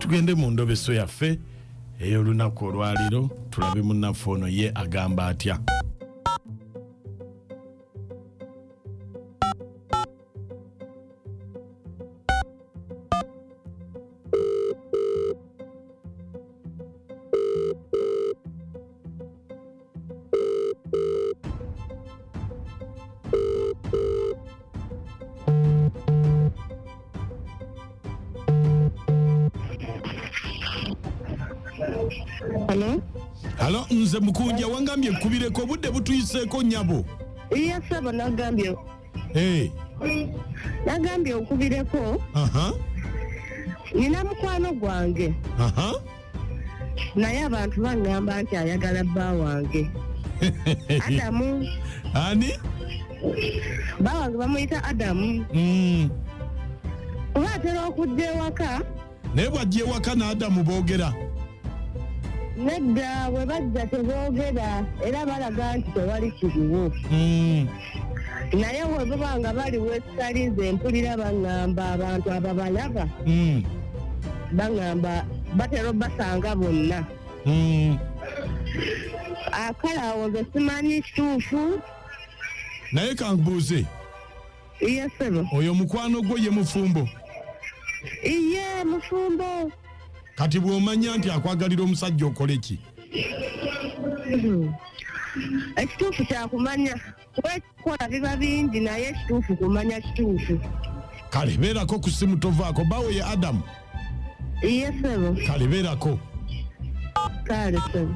tugende mu ndobeso yaffe ey'olunaku olwaliro tulabe munnaffe ono ye agamba atya Hello? halo nze mukunja wangambye nkubireko obudde butuyiseeko nyabo Iya saba nagambye Eh, nagambye okubireko aha nina mukwano gwange aha naye abantu baŋŋamba nti ayagala bba wange adamu ani bba wange bamuyita adamu mm. kuba atera okujja ewaka naye bwajja ewaka n'adamu boogera nedda bwe bajja teboogera era balaga nti tewali kiriwo mm. naye webaba nga bali wesitalize mpulira baŋŋamba abantu ababalaba hmm. baŋŋamba batera obasanga bonna hmm. akale awo nze simanyi kituufu naye kankubuuze yesebo oyo mukwano gwo ye mufumbo iye mufumbo kati bwomanya nti akwagalira omusajja okole ki ekituufu kyakumanya kuba ekikola biba bingi naye ekituufu kumanya kituufu kale beerako ku simu tovaako bawe ye adamu iye sebo kale beerako kale sebo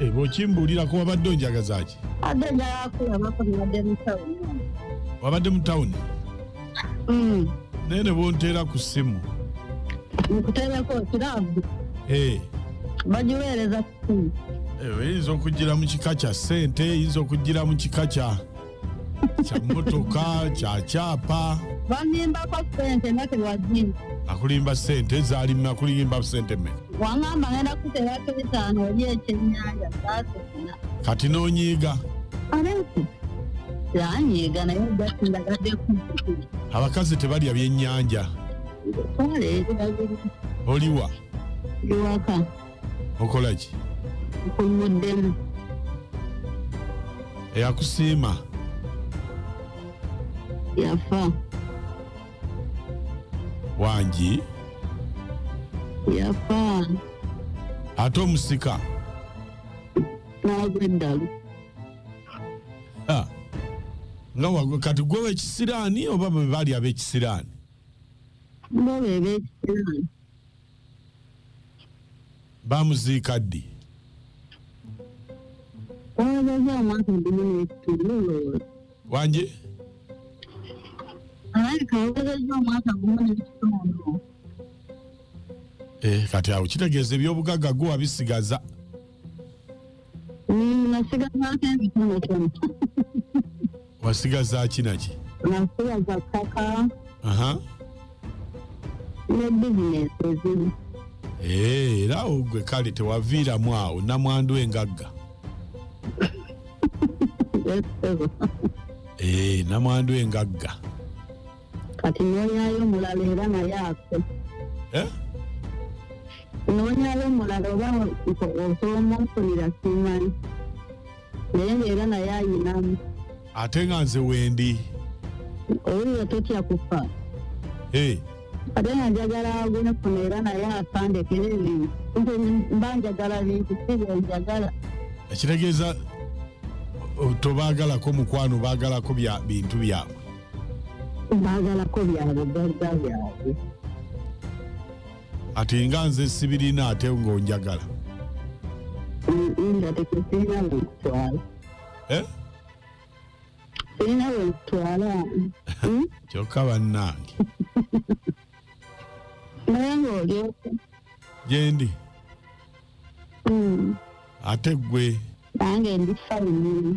Eh, bwokimbulirako wabadde onjagazaki abadde njagala kulabako nabadde mu tawuni wabadde mu tawuni mm. naye ne bonteera ku ssimu nkuteereko kirabu eh. bagiweereza ku ssimu eh, eyinza okugira mu kika kya ssente eyinza okugira mu kika kya kya mmotoka kya kyapa bambimbako sente nga tewazimba akulimba sente zaali me akulimba sente me wangamba ngenda kuterako bitaano oli ekyenyanja saasesina kati n'onyiiga abensi yanyiiga naye ojasindagadde kukukuza abakazi tebalya byennyanja twala ebiragiro oliwa iwaka okola ki nkomuddemu eyakusiima yafa wangi yafa ate omusika nagwa eddalu nga wagwe kati gwe wekisiraani oba bwe baali abekisiraani bo bebekisiraani bamuziika ddi wangi eh, kati awo kitegeeza ebyobugagga gwe wabisigaza Mm, nasigazaako ebitonotono wasigaza ki naki nasigaza ttaka aha ne bizinesi ezimu Eh, era awo gwe kale tewaviiramu awo namwandu engagga Yes, sebo. Eh, namwandu engagga kati noonyayo omulala era naye afe Eh? noonyayo omulala oba osobola omunfunira simanyi naye ngaera naye ayinamu ate nga nze wendi owulira totya kufa Eh, ate nga njagala agunefuna era naye afandekere ebintu nze mba njagala bintu si byenjagala ekitegeeza o- tobaagalako mukwano baagalako bya bintu byabwe baagalako byabwe gagga byabwe ati nga nze sibirina ate ngaonjagala kyokka bannange gyendi hmm. ate gwe nange ndi famili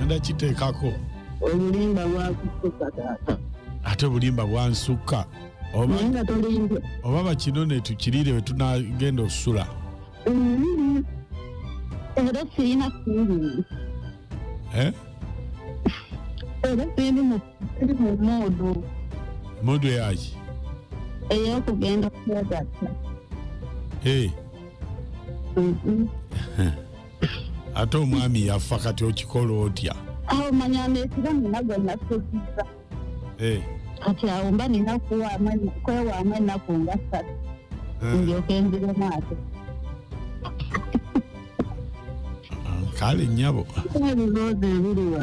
enda kiteekako obulimba bwakusukka taata ate obulimba bwansukka oba bakino netukiriire wetunagenda okusula mm-hmm. era sirina siri eh? era siri mu muudu muudu eyaki eyokugenda kugatta eh. mm-hmm. ate omwami yaffa kati okikola otya awo manya nesiba nina gonna sekiza eh. kati awo mba nina kwewaamu ennaku nga satu eh. ndyoka enzire maato kale nyabo ebiroozi ebiriwa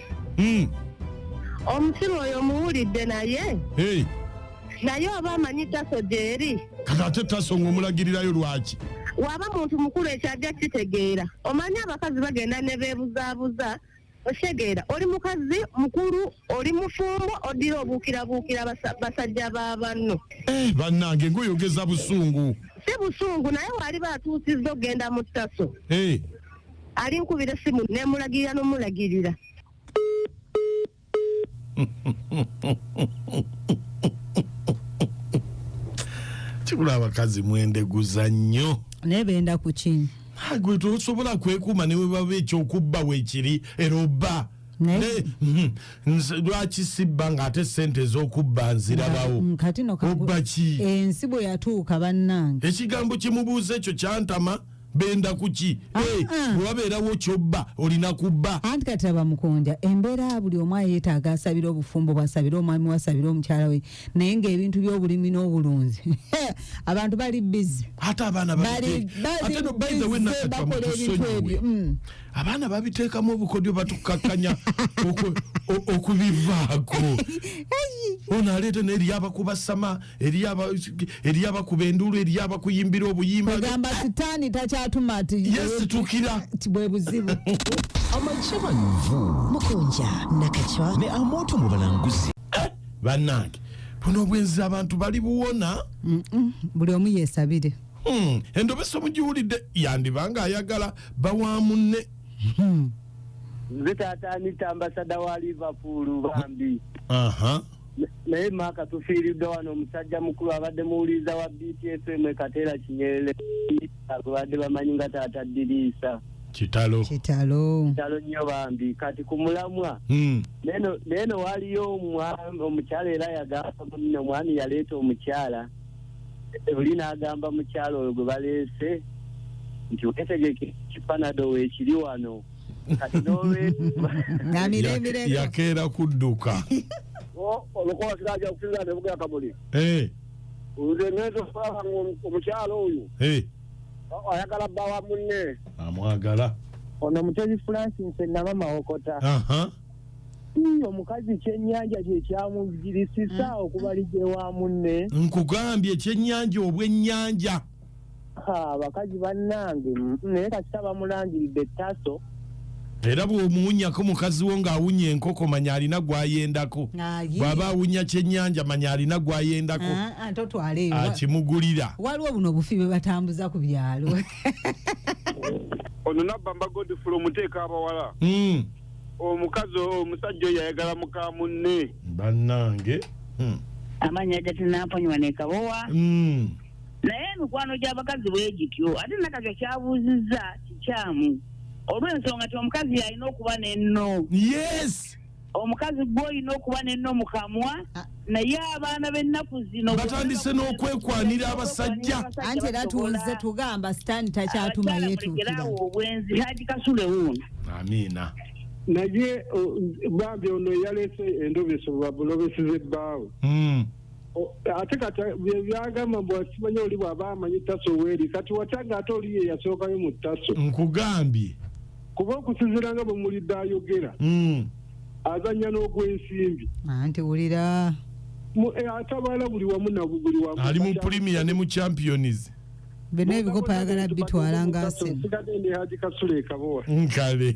Mm. omusiru oyo omuwulidde naye Hey, naye oba amanyi taso gyeri kati ate taso ng'omulagirirayo lwaki waba muntu mukulu ekyajja kitegeera omanyi abakazi bagenda ne beebuzaabuza okitegeera oli mukazi mukulu oli mufumbo oddira obuukirabuukira basa- basajja ba banno Eh, bannange ng'oyogeza busungu si busungu naye waali baatuusizza okugenda mu ttaso Hey, alinkubira essimu nemulagirira nomulagirira kibula abakazi mwendeguza nnyo naye benda kuki agwe tosobola kwekuuma ne webaba ekyokubba weekiri era obba mhm. lwaki sibba ng'ate sente ez'okubba nzirabawo mm, obba ki ensi bwe yatuuka bannange ekigambo kimubuuza ekyo kyantama benda kuki ah, eh, ah. bwewabeerawo kyobba olina kubba anti kati laba mukunja embeera buli omu ayetaaga asabire obufumbo bwasabire omwami wasabire omukyala we naye ngaebintu byobulimi n'obulunzi abantu bali bizi ate abaana bakola ebintu ebyo mm. abaana babiteekamu obukodyo batukakkanya okubivaako ono aleeta naye lyabakubasama eriyo abakuba enduulu eriyo abakuyimbira obuyimba ogamba sitaani takyatuma ti yesitukira bwe buzibu amajabanvu mukunja nakacwa ne amoto mu balanguzi eh, bannange buno obwenzi abantu bali buwona buli omu yesabire hmm, endobeso mugiwulidde yandiba nga ayagala bawamunne hmm. nze taata anita ambasada wa liverpool bambi naye maaka tufiiriddwa wano omusajja mukulu abadde muwuliriza wa btfm ekateera kinyerere gwebadde bamanyi nga taata diriisa kitalo kitalo kitalo nnyo bambi kati ku mulamwa hmm. naye no waliyo omukyala era yagamba muno omwami yaleeta omukyala oli n'agamba mukyala oyo gwe baleese nti wetegeke kipanado weekiri wano kati n'olwekyo na miremire yakeera kudduka olukola siraja okusinza nebuga akamuli Eh, nze ngenza okulaba ngaomukyalo oyo eh, o- ayagala bba wa munne amwagala ono mutebi francis naba mawokota aha Ii, omukazi kyenyanja kyekyamugirisisa okubalija ewa munne nkugambye ekyennyanja obwennyanja abakazi bannange naye kasita bamulangiridde taso era bw'omuwunyako mukazi wo ng'awunya enkoko manya alina gwayendako bw'aba awunya kyennyanja manya alina gwayendako ah, ah, totwaleyo akimugulira waliwo buno obufi bwe batambuza ku byalo ono nabba mbagodifula omuteeka abawala hmm. omukazi omusajja oyo ayagala muka munne bannange hmm. amanya gatinaponywa nekabowa hmm. naye emikwano gy'abakazi bwe gityo ate nakakyo kyabuuzizza kikyamu olw'ensonga ti omukazi yalina okuba nenno yes omukazi gwe olina okuba nenno mukamwa ah. naye abaana b'ennaku zino batandise n'okwekwanira abasajja anti era tuwulize tugamba sitaani takyatuma yetuukirawo obwenzi haji kasule wuuno amiina naye oh, bambi ono eyaleese endobesebwa bulobeseze bbaawe hmm. ate kati byebyagamba mbu akimanya oli bwaba amanyi taso weri kati watya nga ate oliyo eyasookayo mu taso nkugambye kuba okusinzira nga bwemulidde ayogera hmm. azanya n'ogwensimbi anti wulira eh, atabala buli wamu nabuli wamu ali mu premier ne mu champions byonna ebikopa ayagala bitwala nga asensigadde ne haji kasule ekabowa nkale